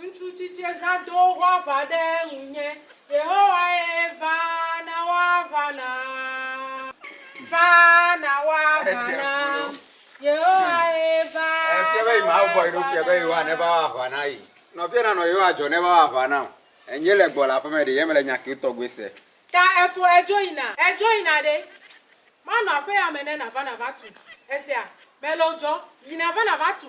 Ŋutsu tsitsie zã do woƒe aʋa ɖe ŋunye. Yehowae va na wɔ aʋa nam. Va na wɔ aʋa nam. Yehowae va na wɔ aʋa nam. Ta efo edzo yina. Edzo yina ɖe. Manɔ aƒea me ne nàva nàva tu. Èsea? Melo dzo. Yi nàva nàva tu.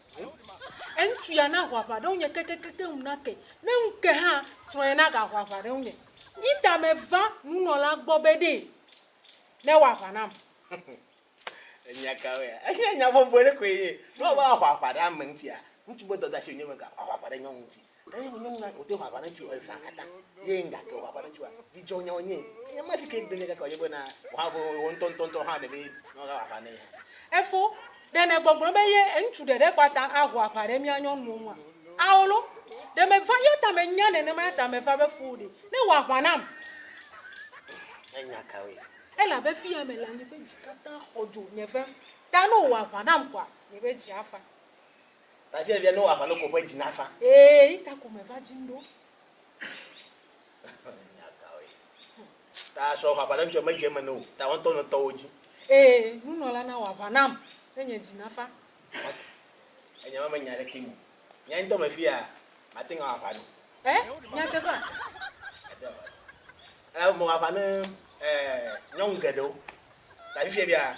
Eŋtsu ya naho aʋa ɖe ŋunye kekekekeŋ ŋu nake, ne ŋuke hã, srɔ̃ye nagaho aʋa ɖe ŋunye. Yi ta meva nunɔlaa gbɔ be ɖee newɔ aʋa nam. Enya kawoea? Enye nya bɔbɔe ɖe koe nye! Ne woava aho aʋa ɖe ame ŋutia, ŋutsu ƒe dɔdeasi wònye be gaho aʋa ɖe nyɔnu ŋuti. Ɖe nye nyɔnu na wòde ʋaʋã ɖe tso ezã katã ye ŋga ke ʋaʋã ɖe tsoa? Dzidzɔ nyawo nye ŋ. Ke nye mafi ke egbe nye kaka o ye be na ʋã ʋe wɔ ŋutɔ ŋutɔ ŋutɔ hã ɖe be nɔ ga ʋaʋã nɛ hã. Efo, ɖe nè gbɔgblɔ be ye ŋutsu ɖe ɖe kɔ ata aho aʋa ɖe mía nyɔnuwo ŋua? Ao lo. Ɖe me va yɔta me nya nenema ya ta me va be foo ɖe ne wɔ aʋã nam. Ŋ, enya kawoe? Elabe fiya me la nye be dzi katã xɔ dzo nye vem ta ne wò wɔ aʋã nam koa nye be dzi afa. Tafia via no aʋa no ko ƒe dzi na fa. Ee yi ta ko me va dzim ɖo. Nya ka woe. Ta srɔ ƒaƒa ɖe ŋutsɔ me dze me no o ta wɔtɔ no tɔwo dzi. Ee nunɔla na wɔ aʋa nam ne nye dzi na fa. Enya ma me nya ɖe kpe mi. Nya ŋtɔ me fia ma te ŋa wɔ aʋa no. E nya teƒa. Ado aʋa no. Ela be me wɔ aʋa ne eh nyɔnu geɖewo. Ta fifia via.